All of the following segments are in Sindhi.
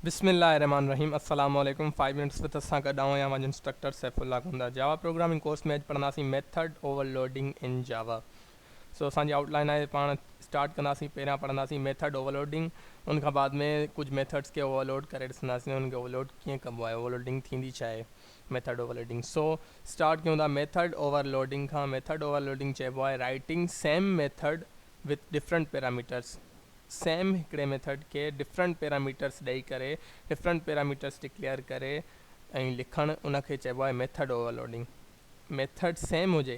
بسم الله الرحمٰن الرحيم السلام عليڪم فائيو منٽس وٿ سان گڏ آئون آهيان پنهنجو انسٽرڪٽر سيف الله گوندا جاوا پروگرامنگ ڪورس ۾ اڄ پڙهنداسين ميٿڊ اوور لوڊنگ ان جاوا سو اسان جي آئوٽ لائن آهي پاڻ اسٽارٽ ڪنداسين پهريان پڙهنداسين ميٿڊ اوور لوڊنگ ان کان بعد ۾ ڪجهه ميٿڊس کي اوور لوڊ ڪري ڏسنداسين ان کي اوور لوڊ ڪيئن ڪبو آهي اوور لوڊنگ ٿيندي ڇا آهي method overloading so start ڪيون ٿا ميٿڊ اوور لوڊنگ کان ميٿڊ اوور لوڊنگ چئبو آهي writing same method with different parameters same هڪڙي ميٿڊ کي ڊفرنٽ پيراميٽرس ڏئي ڪري ڊفرنٽ پيراميٽرس ڊڪليئر ڪري ۽ لکڻ ان کي چئبو آهي method overloading method same هجي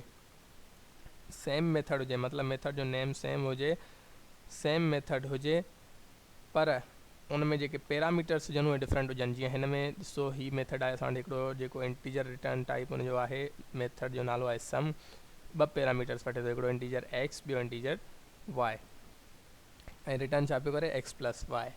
سيم ميٿڊ هجي مطلب ميٿڊ جو نيم سيم هجي سيم ميٿڊ هجي پر ان ۾ جيڪي پيراميٽرس هجن اهي ڊفرنٽ هجن جيئن هن ۾ ڏسو هي ميٿڊ آهي اسان وٽ هڪڙو جيڪو انٽيجر ريٽرن ٽائپ ان جو آهي ميٿڊ جو نالو آهي سم ٻه پيراميٽرس وٺي ٿو هڪڙو انٽيجر ايڪس ٻيو انٽيجر واء ۽ رٽرن ڇا پيو ڪري ايڪس پلس واء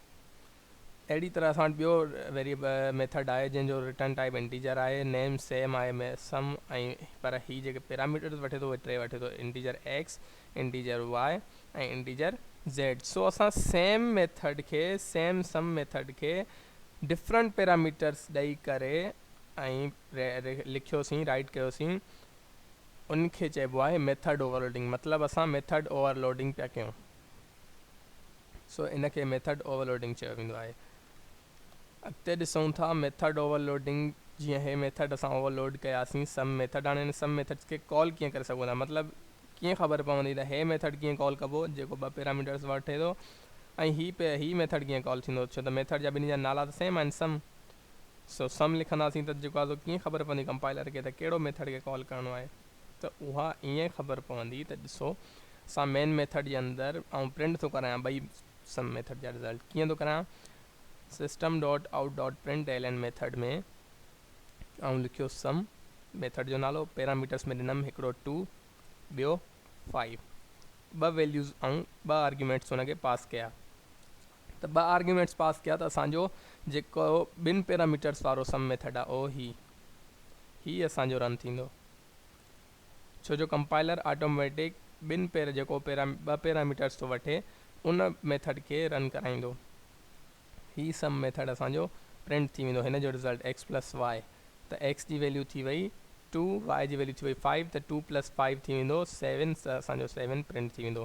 اهڙي طرح اسان وٽ ٻيو ويريب ميٿڊ آهي جنهن جو رٽرن ٽائپ انٽيجر آهي نيم سيم آهي سم ۽ پر هي جيڪي پيراميٽرز وٺي ٿو اهي ٽي وٺي ٿو integer x integer y ۽ integer z so اسان سيم ميٿڊ کي سيم سم ميٿڊ کي ڊفرنٽ پيراميٽرز ڏئي ڪري ۽ لکيوسين رائٽ ڪيوسين ان کي چئبو آهي ميٿڊ اوورلوڊنگ مطلب اسان ميٿڊ اوورلوڊنگ پيا ڪيون سو ان کي ميٿڊ اوورلوڊنگ چيو ويندو آهي اڳتي ڏسون ٿا ميٿڊ اوورلوڊنگ جيئن هي ميٿڊ اسان اوورلوڊ ڪياسين سم ميٿڊ هاڻي هن سم ميٿڊس کي ڪال ڪيئن ڪري سگهون ٿا مطلب ڪيئن خبر پوندي ته هي ميٿڊ ڪيئن ڪال ڪبو جيڪو ٻه پيراميٽرس وٺي ٿو ۽ هي پي هي ميٿڊ ڪيئن ڪال ٿيندو ڇو ته ميٿڊ جا ٻنهي جا نالا ته سيم آهن سم سو سم لکنداسين ته جيڪو آسو ڪيئن خبر پوندي ڪمپائلر کي ته ڪهڙو ميٿڊ کي ڪال ڪرڻو آهي ته اها ائين خبر پوندي ته ڏسو سان مين ميٿڊ جي اندر آئون پرنٽ ٿو ڪرايان ٻئي سم ميٿڊ جا رزلٽ ڪيئن ٿو ڪرايان system dot out dot print l n method ۾ آئون لکيو سم ميٿڊ جو نالو پيراميٽرس ۾ ڏنم هڪڙو ٽو ٻيو فائيو ٻه ويليوز آئون ٻه آرگيومينٽس هن کي پاس ڪيا ته ٻه آرگيومينٽس پاس ڪيا ته اسان جو جيڪو ٻن پيراميٽرس وارو سم ميٿڊ آهي اهو هي هي اسان جو رن ٿيندو ڇو جو ڪمپائلر آٽوميٽڪ ٻن پير جيڪو پيرا ٻه پيراميٽرس ٿو وٺي ان ميٿڊ کي رن ڪرائيندو هي سم ميٿڊ اسان جو پرنٽ ٿي ويندو هن جو رزلٽ x پلس y ته x جي ويليو ٿي وئي 2 y جي ويليو ٿي وئي 5 ته 2 پلس 5 ٿي ويندو 7 ته اسان جو 7 پرنٽ ٿي ويندو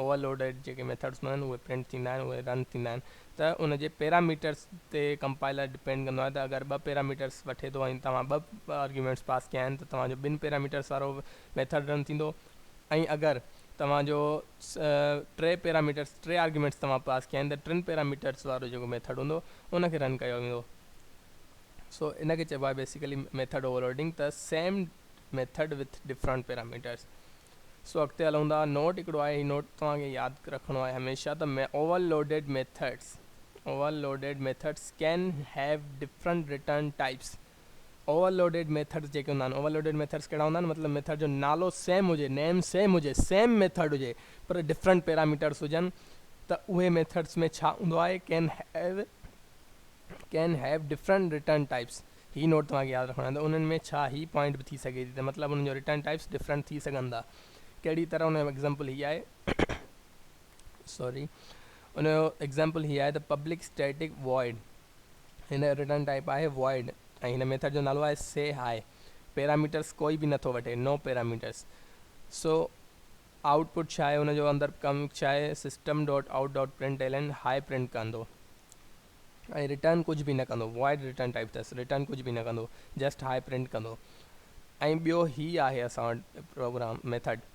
اوور لوڊيڊ جيڪي ميٿڊس هوندا آهن اهي پرنٽ ٿيندا آهن اهي رن ٿيندا آهن ته ان جي پيراميٽرس تي ڪمپائلر ڊپينڊ ڪندو آهي ته اگر ٻه پيراميٽرس وٺي ٿو ۽ توهان ٻه آرگيومينٽس پاس ڪيا آهن ته توهان جو ٻن پيراميٽرس وارو ميٿڊ رن ٿيندو ۽ اگر توهان جو ٽي پيراميٽرس ٽي آرگيومينٽس توهان پاس ڪيا آهن ته ٽن پيراميٽرس وارو جيڪو ميٿڊ هوندو ان کي رن ڪيو ويندو سو ان کي چئبو آهي بيسيڪلي ميٿڊ اوور لوڊنگ ته same method with different parameters so اڳتي هلون ٿا نوٽ هڪڙو آهي هي نوٽ توهان کي ياد رکڻو آهي هميشه ته overloaded methods overloaded methods can have different return types overloaded methods جيڪي هوندا آهن اوور لوڊيڊ ميٿڊس ڪهڙا هوندا آهن مطلب ميٿڊ جو نالو سيم هجي نيم سيم هجي سيم ميٿڊ هجي پر ڊفرنٽ پيراميٽرس هجن ته اهي ميٿڊس ۾ ڇا هوندو آهي can have can have different return types هي نوٽ توهان کي ياد رکڻو آهي ته انهن ۾ ڇا هي پوائنٽ به ٿي سگهي ٿي ته مطلب انهن جو رٽرن ٽائپس ڊفرنٽ ٿي سگهن ٿا ڪهڙي طرح ان جو ايگزامپل هي آهي سوري ان جو ايگزامپل هي آهي ته پبلڪ اسٽيٽڪ وائڊ هن جو رٽرن ٽائپ آهي وائڊ ۽ هن ميٿڊ جو نالو آهي سي هاء پيراميٽرس ڪوئي به نٿو وٺي نو پيراميٽرس سو آئوٽ پٽ ڇا آهي ان جو اندر ڪم ڇا آهي system dot out dot println hi print ڪندو ۽ رٽرن ڪجهه به نه ڪندو وائڊ رٽرن ٽائپ اٿس رٽرن ڪجهه به نه ڪندو جسٽ هاء پرنٽ ڪندو ۽ ٻيو هي آهي اسان وٽ program method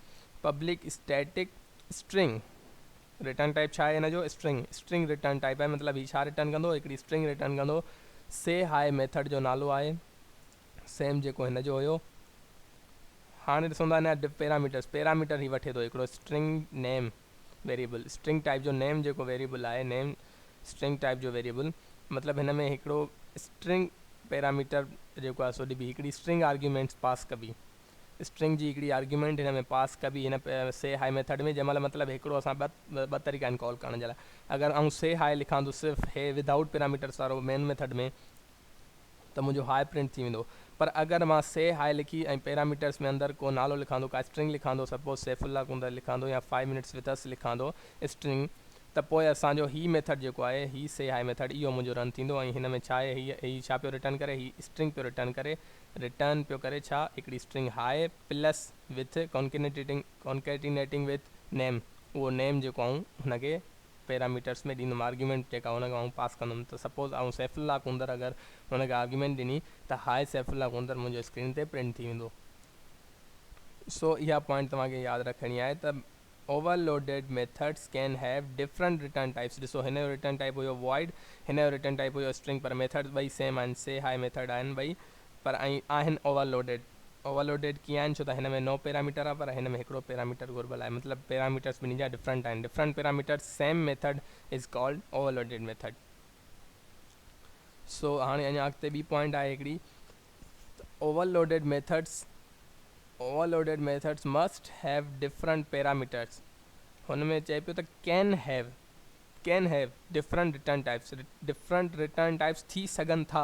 public static string return type ڇا آهي ان جو اسٽرنگ اسٽرنگ رٽرن ٽائپ آهي مطلب هي ڇا رٽرن ڪندو هڪڙي اسٽرنگ رٽرن ڪندو سي هاء ميٿڊ جو نالو آهي سيم جيڪو هن جو هيو. هاڻي ڏسون ٿا هن جا پيراميٽرس پيراميٽر هي وٺي ٿو هڪڙو string name variable string type جو نيم جيڪو ويريبل آهي نيم اسٽرنگ ٽائپ جو ويريبل مطلب هن ۾ هڪڙو اسٽرنگ پيراميٽر جيڪو آهي سو ڏبي هڪڙي اسٽرنگ آرگيومينٽس پاس ڪبي اسٽرنگ جي هڪڙي آرگيومينٽ هن ۾ پاس ڪبي هن سي هاء ميٿڊ ۾ جنهن مهل مطلب هڪڙو اسان ٻه طريقا آهن ڪال ڪرڻ جي لاء اگر آئون سي هاء لکان ٿو صرف هي ودائوٽ پيراميٽرس وارو مين ميٿڊ ۾ ته منهنجو هاء پرنٽ ٿي ويندو پر اگر مان سي هاء لکي ۽ پيراميٽرس ۾ اندر ڪو نالو لکاندو ڪا اسٽرنگ لکاندو سپوز سيف الله ڪونڌر لکاندو يا فائيو منٽس وٿ اس لکاندو اسٽرنگ ته پوء اسان جو هي ميٿڊ جيڪو آهي هي سي هاء ميٿڊ اهو منهنجو رن ٿيندو ۽ هن ۾ ڇا هي هي ڇا پيو رٽرن ڪري هي اسٽرنگ پيو رٽرن ڪري رٽرن پيو ڪري ڇا هڪڙي string hi plus with concatenating concatenating with name اهو نيم جيڪو آئون هن کي پيراميٽرس ۾ ڏيندم آرگيومينٽ جيڪا هن کي آئون پاس ڪندم ته سپوز آئون سيف الله ڪنڌر اگر هن کي آرگيومينٽ ڏني ته هاء سيف الله ڪنڌر منهنجو اسڪرين تي پرنٽ ٿي ويندو سو اها پوائنٽ توهان کي ياد رکڻي آهي ته overloaded methods can have different return types ڏسو هن جو رٽرن ٽائپ هيو وائيڊ هن جو رٽرن ٽائپ هيو اسٽرنگ پر ميٿڊس ٻئي سيم آهن سي هاء ميٿڊ آهن ٻئي پر ائين آهن اوور لوڊيڊ اوور لوڊيڊ ڪيئن آهن ڇو ته هن ۾ نو پيراميٽر آهي پر هن ۾ هڪڙو پيراميٽر گهربل آهي مطلب پيراميٽرس ٻنهي جا ڊفرنٽ آهن different parameters same method is called overloaded method so هاڻي اڃا اڳتي ٻي پوائنٽ آهي هڪڙي overloaded methods overloaded methods must have different parameters هن ۾ چئي پيو ته can have can have different return types different return types ٿي سگهن ٿا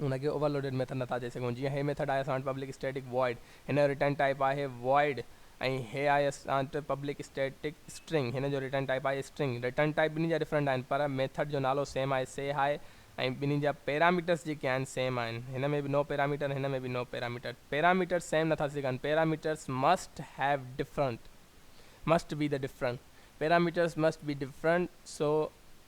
ان کي اوور لوڊيڊ ميٿڊ نٿا چئي سگهون جيئن هي ميٿڊ آء ايس آنٽ پبلڪ اسٽيٽڪ وائڊ هن جو ريٽرن ٽائيپ آهي وائڊ ۽ هي آء ايس آنٽ پبلڪ اسٽيٽڪ اسٽرنگ هن جو ريٽرن ٽائيپ آهي اسٽرنگ ريٽرن ٽائيپ ٻنهي جا ڊفرنٽ آهن پر ميٿڊ جو نالو سيم آهي سي هاء ۽ ٻنهي جا پيراميٽرس جيڪي آهن سيم آهن هن ۾ به نو پيراميٽر هن ۾ به نو پيراميٽر پيراميٽر سيم نٿا سگهن parameters must have different must be the different parameters must be different so